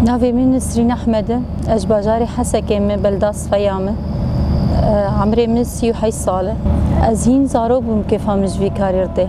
Navê min Nisrîn Ehmed e. Ez ji bajarê Hesekê me belda Sifeya me. Emrê min sî û heyş sal e. Ez hîn zarok bûm kêfa min ji vî karî ride.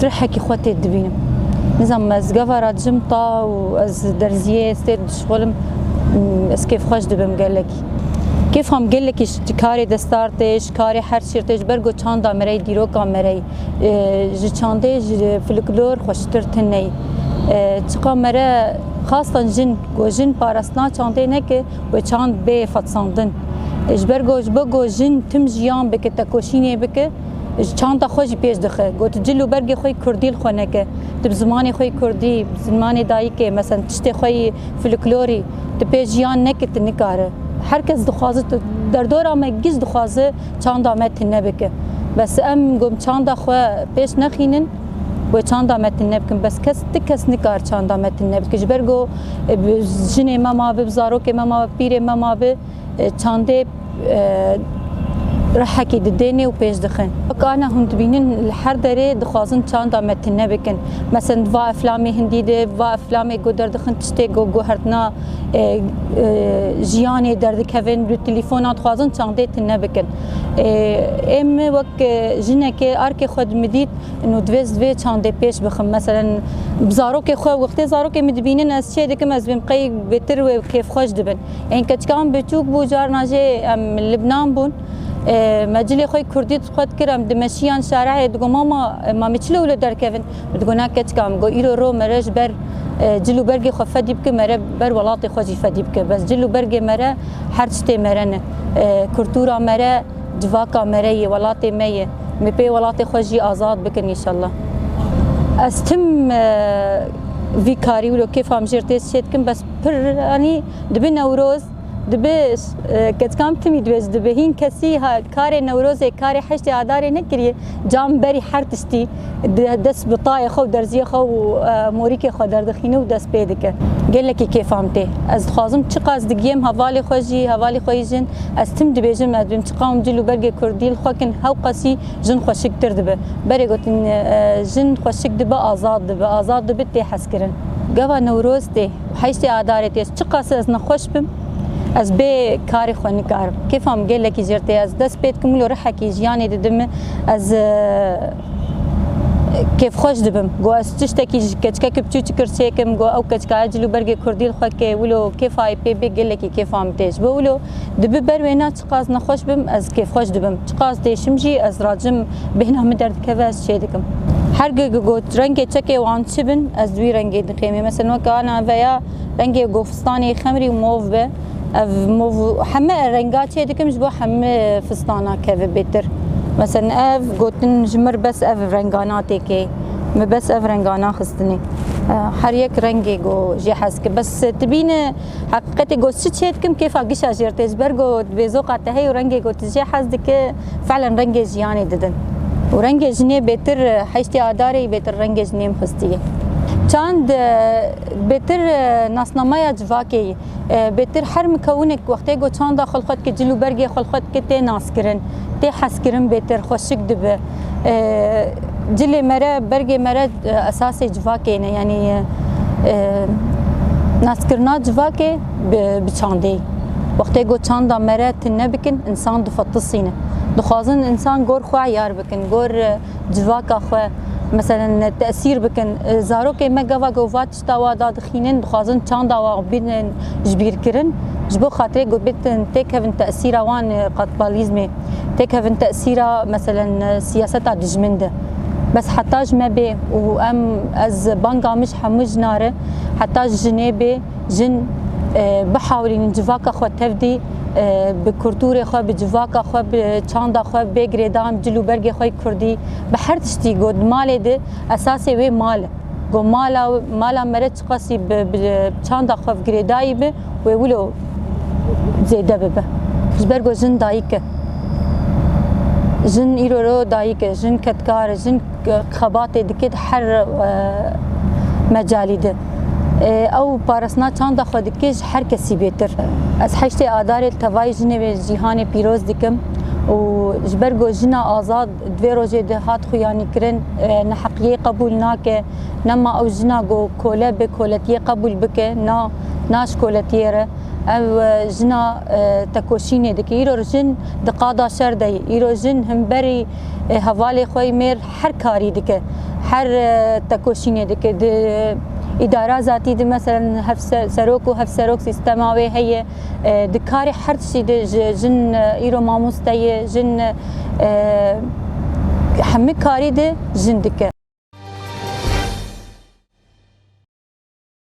Tirhekî xwe tê dibînim. Nizanim ez gava ra dijim ta û ez derziyê ez tê dişixulim ez kêfxweş dibim gelekî. Kêfa min gelekî ji karê destar tê, ji karê her şîr tê, ji ber ku çanda me re yî, dîroka me re yî. Ji çandê, ji filiklor xweştir tune yî. Çiqa me re xastan jin ku jin parastina çandê ne ku wê çand bê fetsandin. Ji ber ku ji bo ku jin tim jiyan bike, tekoşînê bike. Ji çanta xwe jî pêş dixe. Got cil û bergê xwe yê kurdî li xwe neke. Tu bi zimanê xwe yê kurdî, bi zimanê dayikê, meselen tiştê xwe yê filiklorî di pêş jiyan neke tu nikare. Her kes dixwaze tu derdora me giş dixwaze çanda me tune bike. Bes em got çanda xwe pêş nexînin wê çanda me tune bikin. Bes kes ti kes nikare çanda me tune bike. Ji ber ku jinê me mabe, zarokê me mabe, pîrê me mabe. Çandê rehekî didêne û pêş dixe. Wek ana hûn dibînin li her derê dixwazin çanda me tune bikin. Meselen di va eflamê hindî de, di va eflamê ku derdixin tiştê ku guhertina jiyanê derdikevin li telefona dixwazin çandê tune bikin. Ê min wek jinekê arkê xwe dimidît û divêz divê çandê pêş bixim. Meselen bi zarokê xwe wextê zarokê min dibînin ez çê dikim ez bim qey bêtir wê kêfxweş dibin. Ên keçikan biçûk bû carna jê em Libnan bûn. Me cilê xwe kurdî xwe dikir em di meşiyan şarehê digo mama ma me çi lew li derkevin? Min digo na keçika min go îro ro mere ji ber cil û bergê xwe fedî bike mere ber welatê xwe jî fedî bike. Bes cil û bergê mere her tiştê mere ne. Kultûra mere civaka mere yê welatê me yê. Me pê welatê xwe jî azad bikin înşallah. Ez tim vî karî wilo kêfa min jê re tê çê dikim bes. Piranî dibe Newroz, dibe ketkam timî dibe ji dibe. Hîn kesî karê Newrozê, karê heştê Adarê nekiriye. Cam berî her tiştî dest bi tayê xwe û derziyê xwe û morîkê xwe derdixîne û dest pê dike. Gelekî kêfam tê. Ez dixwazim çiqas digiyêm hevalê xwe jî, hevalê xwe yî jin. Ez tim dibêjim ez bim çiqawim cil û bergê kurdî li xwe kin hewqasî Jin xweşiktir dibe. Berê gotin jin xweşik dibe azad dibe, azad dibe tê hezkirin. Gava Newroz tê û heştê Adarê tê. Çiqas ez nexweş bim ez bê karê xwe nikarim. Kêfa min gelekî jêr tê. Ez dest pê dikim wilo rihekî jiyanê dide min. Ez kêfxweş dibim. Got ez tiştekî ji keçikeke piçûçik kir çêkim. Got ew keçikaya cilûbergê kurdî li xwe kê. Wilo kêfayê pê bê gelekî kêfa min tê. Ji bo wilo dibi ber wê na. Çiqas nexweş bim ez kêfxweş dibim, çiqas têşim jî ez racim bêhna min derdikeve ez çê dikim. Her gig got rengê çekê wan çi bin ez wî rengê dixêmê meselen weke ana veya rengê gofistanê xemrî û mov be ev mov û heme renga çê dikim ji bo heme fistana keve bêtir. Meselen ev gotin ji mir bes ev renga natêkê me bes ev renga naxistinê her yek rengê got jê hez dike bes tu bîne. Heqîqetê got çi çê dikim kêfa gişa jêr tê ji ber ku vêzoqa te heye û rengê ku tu jê hez dike felen rengê jiyanê didin û rengê jinê bêtir heştê adarê bêtir rengê jinê mixistî ye. Çand bêtir nasnameya civakê ye. Bêtir her mikewnek wextê ku çanda xwe li xwe dike cil û bergê xwe li xwe dike tê naskirin, tê hezkirin bêtir xweşik dibe. Cilê me re, bergê me re esasê civakê ne yanî naskirina civakê bi çandê. Wextê ku çanda me re tu nebikin însan difetisîne. Dixwazin însan gor xwe eyar bikin, gor civaka xwe meselen tesîr bikin. Zarokê me gava ku va Çitawa da dixînin, dixwazin çanda wan bînin jibîrkirin, ji bo xatirê ku bitin têkevin tesîra wan li qatbalîzmê, têkevin tesîra meselen siyaseta dijmin de. Bes heta ji me bê û em ez banga min ji hemû jinan re, heta ji jinê bê, jin bihewlînin civaka xwe tevdî bi kultûrê xwe, bi civaka xwe, bi çanda xwe bê girêdan, bi cil û bergê xwe yê kurdî, bi her tiştî ku di malê de esasê wê mal e. Got, Mala mala me re çiqasî bi çanda xwe bi girê dayî bi wê wilo zêde bibe. Ji ber ku jin dayik e. Jin îro re dayik e, jin kedkar e, jin xebatê dike di her mecalî de. Ew parastina çanda xwe dike ji her kesî bêtir. Ez heştê Adarê li tevayê jinê wê cîhanê pîroz dikim û ji ber ku jina azad, Di vê rojê de hat xuyanîkirin, neheqiyê qebûl nake, nema ew jina ku kole bê koletiyê qebûl bike, na, na ji koletiyê re. Ev jina tekoşînê dike. Îro jin di qada şer de ye. Îro jin himberî hevalê xwe yê mêr her karî dike, her tekoşînê dike. Di îdara zatî de meselen hevserok û hevserok sîstema wê heye. di karê her tiştî de ji jin îro mamoste ye, jin hemû karî de jin dike.